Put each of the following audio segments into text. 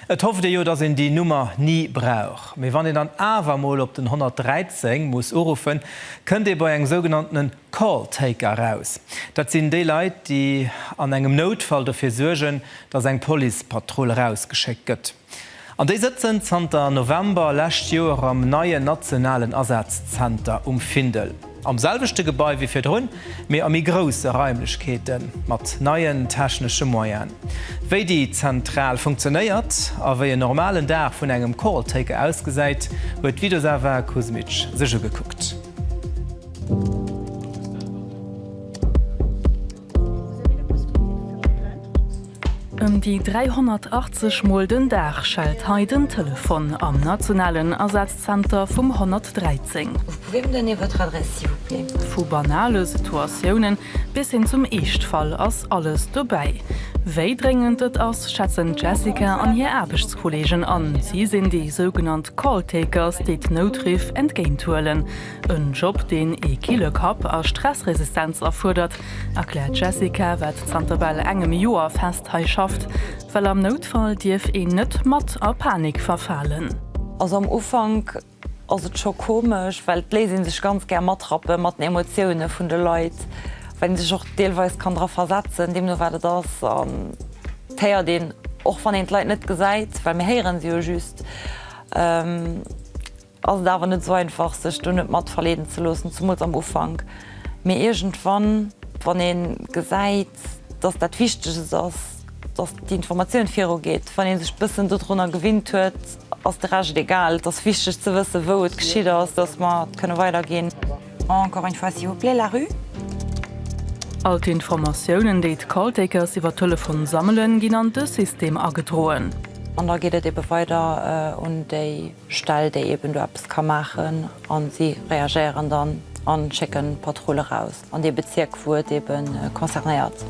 Et hofft ee jo, dass een déi Nummer ni brauch. Mee wann een dann awer mol op den 113 muss uruffen, kënnt ee bei engem sougenanntene Call Taker eraus. Dat sinn déi Leit, déi an engem Noutfall dofir suergen, dass eng Policepatrull erausgeschéckt gëtt. An déi sëtzen zanter November lescht Joer am neien nationalen Asazenter um Findel. Am selwechte Gebai wéi virdrun, mee a méi grousse Raimlechkeete mat neien technesche Moyenen. Wéi déi Zentral funktionéiert a wéi en normalen Dag vun engem Koraltaker ausgesäit, huet d'Vidosava Kuzmic sech ugekuckt. Ëm déi 380 mol den Dag schellt hei den Telefon am nationalen Asazenter vum 113. Vu banale Situatiounen bis hin zum Eeschtfall ass alles dobäi. Wéi dréngend et ass, schätzen d'Jessica an hir Aarbechtskolleegen an. Si sinn déi sougenannt Call-Takers, déi d'Noutriff entgéinthuelen. En Job, deen ee kille Kapp a Stressresistenz erfuerdert, erkläert d'Jessica, wat zanter bal engem Joer fest hei schafft. Well am Noutfall dierf een net mat a Panik verfalen. Also am Ufank ass et scho komesch, well et léisst ee sech ganz gär matrappe mat den Emotioune vun de Leit, well een sech och deelweis kann dra versetzen, deemno wat et ass. An et héiert een, och wann een d'Leit net gesäit, well mir héiere se jo just, ass et awer net sou einfach sech do net mat verleeden ze loossen, zumools am Ufank, mee iergendwann wann een gesäit dass dat Wichteges ass dass déi Informatioun viru geet, wann een sech bëssen dodrunner gewinnt huet, ass de Rescht egal. Et ass wichteg ze wëssen wou et geschitt ass, dass mer kënne weider ginn. Encore une fois s'il vous plaît la rue. All d'Informatiounen déi d'Calltakers iwwer Telefon sammelen ginn an de System agedroen. An da geet et ebe weider un déi. Stell déi eben do eppes ka maachen an si reagéieren dann an schécken Patrulle raus an dee Bezierk wou et eben concernéiert.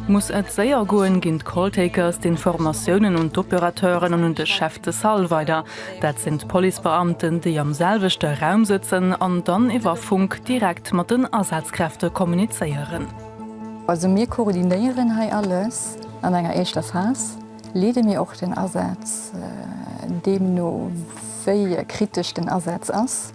Muss et séier goen, ginn d'Calltakers d'Informatiounen un d'Opérateuren an un de Chef de Salle weider. Dat sinn d'Policebeamten, déi am selwechte Raum sëtzen an dann iwwer Funk direkt mat den Asazkräfte kommunizéieren. Also mir koordinéieren hei alles an enger éischter Phas. Leede mir och den Asaz, deemno wéi kritesch den Asaz ass,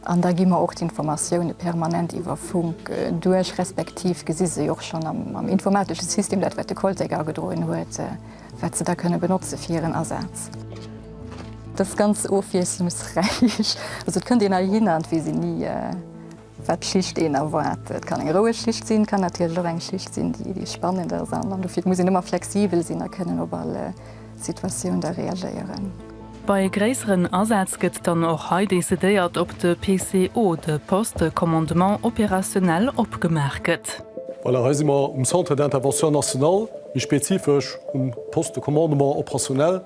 an da gi mer och d'Informatioune permanent iwwer Funk duerch, respektiv gesi se jo och schonn am informatesche System, dat wat de Koltec agedroen huet, wat se da kënne benotze fir hiren Asaz. Dat ass ganz ofwiesslungsräich, also et kënnt een heihinner an et weess een ni, Wat d'Schicht een erwaart. Et kann eng roueg Schicht sinn, et kann natierlech och eng Schicht sinn, déi spannend ass. An dofir muss een ëmmer flexibel sinn a kënnen op all Situatioun da reagéieren. Bei gréisseren Asätz gëtt dann och hei decidéiert, ob de PCO, de Poste de Commandement Opérationnel, opgemaach gëtt. Voilà, hei si mer um Centre d'Intervention National, méi spezifesch um Poste de Commandement Opérationnel.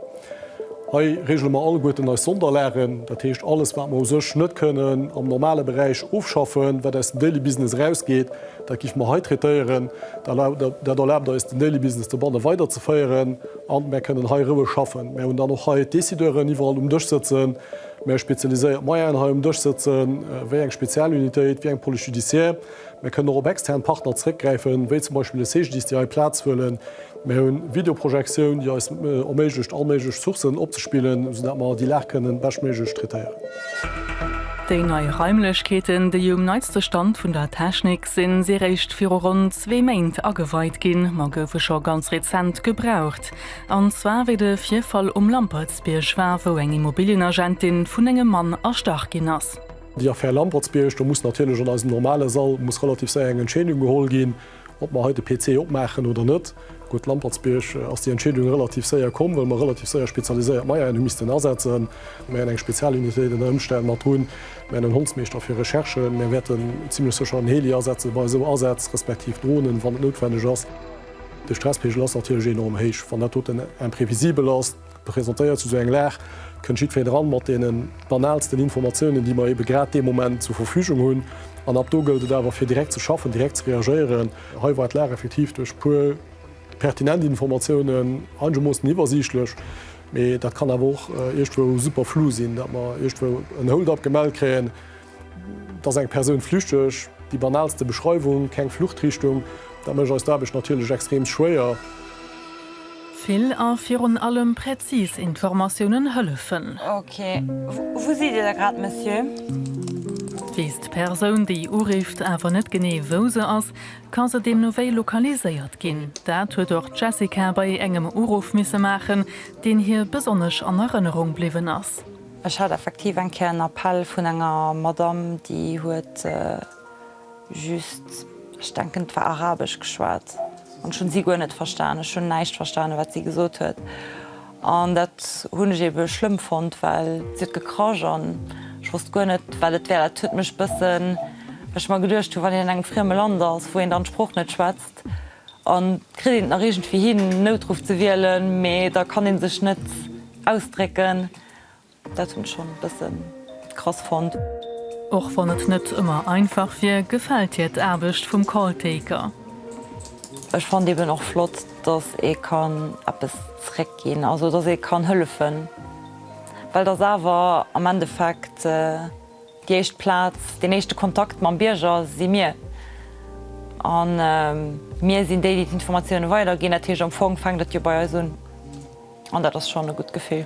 Hei regele mer alleguerten eis Sonderlagen, dat heescht alles, wat mer u sech net kënnen am normale Beräich ofschaffen, wat aus dem Daily Business erausgeet, dat giffe mer hei traitéieren. Dat erlaabt eis, den Daily Business dobanne weiderzeféieren an mer kënnen hei roueg schaffen. Mer hunn dann och hei d'Décideuren iwwerall um Dësch sëtzen, mer spezialiséiert Moyennen hei um Dësch sëtzen, wéi eng Spezialunitéit, wéi eng Police judiciaire. Mir kënnen och op extern Partner zréckgräifen, wéi zum Beispill e CGDIS, déi hei Plaz huelen. Mir hu Videoprojektioun, déi eis erméiglecht, all méiglech Sourcen opzespillen, sou dat mer déi Lag kënnen beschtméiglech traitéieren. Déi nei Raimlechkeeten, déi um neitste Stand vun der Technik sinn, si réischt viru ronn zwee Méint ageweit ginn, ma goufe scho ganz rezent gebraucht. An zwar wéi de Virfall um Lampertsbierg war, wou eng Immobilienagentin vun engem Mann erstach ginn ass. Déi Affär Lampertsbierg, do muss natierlech an eisem normale Sall muss relativ séier eng Entscheedung geholl ginn, ob mer hei de PC opmaachen oder net. Gutt, Lampertsbierg ass déi Entscheedung relativ séier komm, well mer relativ séier spezialiséiert Meieren hu missten asetzen. Mer hätten eng Spezialunitéit ënner Ëmstänn mat drun, mer hätten en Hondsmeeschter fir Recherchen, mer wäerten zimmlech sécher en Heli asetze bei esou Asätz, respektiv Dronen, wann et noutwenneg ass. De Stresspegel ass natierlech enorm héich, wann dat doten imprévisibel ass. Presentéiert zu sou eng Lag kënnt jiddwereen eran mat deene banaalsten Informatiounen, déi mer eebe grad dee Moment zur Verfügung hunn. An ab do gëllt et awer, fir direkt ze schaffen, direkt ze reagéieren. Hei war d'Lag effektiv duerch e puer pertinent Informatiounen einegermoossen iwwersiichtlech, mee dat kann awer och iergendwou super flou sinn, datt mer iergendwou en Hold-up gemellt kréien, Dass eng Persoun flüchteg, déi banalste Beschreiwung, keng Fluchtrichtung, dat mécht eis d'Aarbecht natierlech extrem schwéier. Vill a virun allem präzis Informatiounen hëllefen. Ok, wou sidd Dir da grad, Monsieur? Weess d'Persoun, déi urifft, awer net genee, wou se ass, ka se deemno wéi lokaliséiert ginn. Dat huet och d'Jessica bei engem Uruff misse maachen, deen hir besonnesch an Erënnerung bliwwen ass. Ech hat effektiv eng Kéier en Appell vun enger Madamm, déi huet just, ech denken et war arabesch, geschwat an ech hunn si guer net verstan. Ech hunn näischt verstane wat si gesot huet an dat hunn ech ebe schlëmm fonnt, well si huet gekrasch an ech wosst guer net wat et wär. Dat huet mech bëssen, well ech mer geduecht hunn, wann een an engem frieme Land ass, wou een dann d'Sprooch net schwätzt, a kritt een et nach iergendwéi hin Noutruff ze wielen, mee da kann ee sech net ausdrécken. Dat hun ech schon bessen krass fonnt. Och wann et net ëmmer einfach wier, gefält hir d'Aarbecht vum Calltaker. Ech fannt eben och flott, dass ee kann eppes zréck ginn, also dass ee kann hëllefen, well dass awer am Endeffekt. Déi éischt Plaz, deen éischte Kontakt mam Bierger si mir. A mir sinn déi, déi d'Informatiounen weiderginn. Dat heescht, am Fong fänkt et jo bei eis un. An dat ass schonn e gutt Gefill.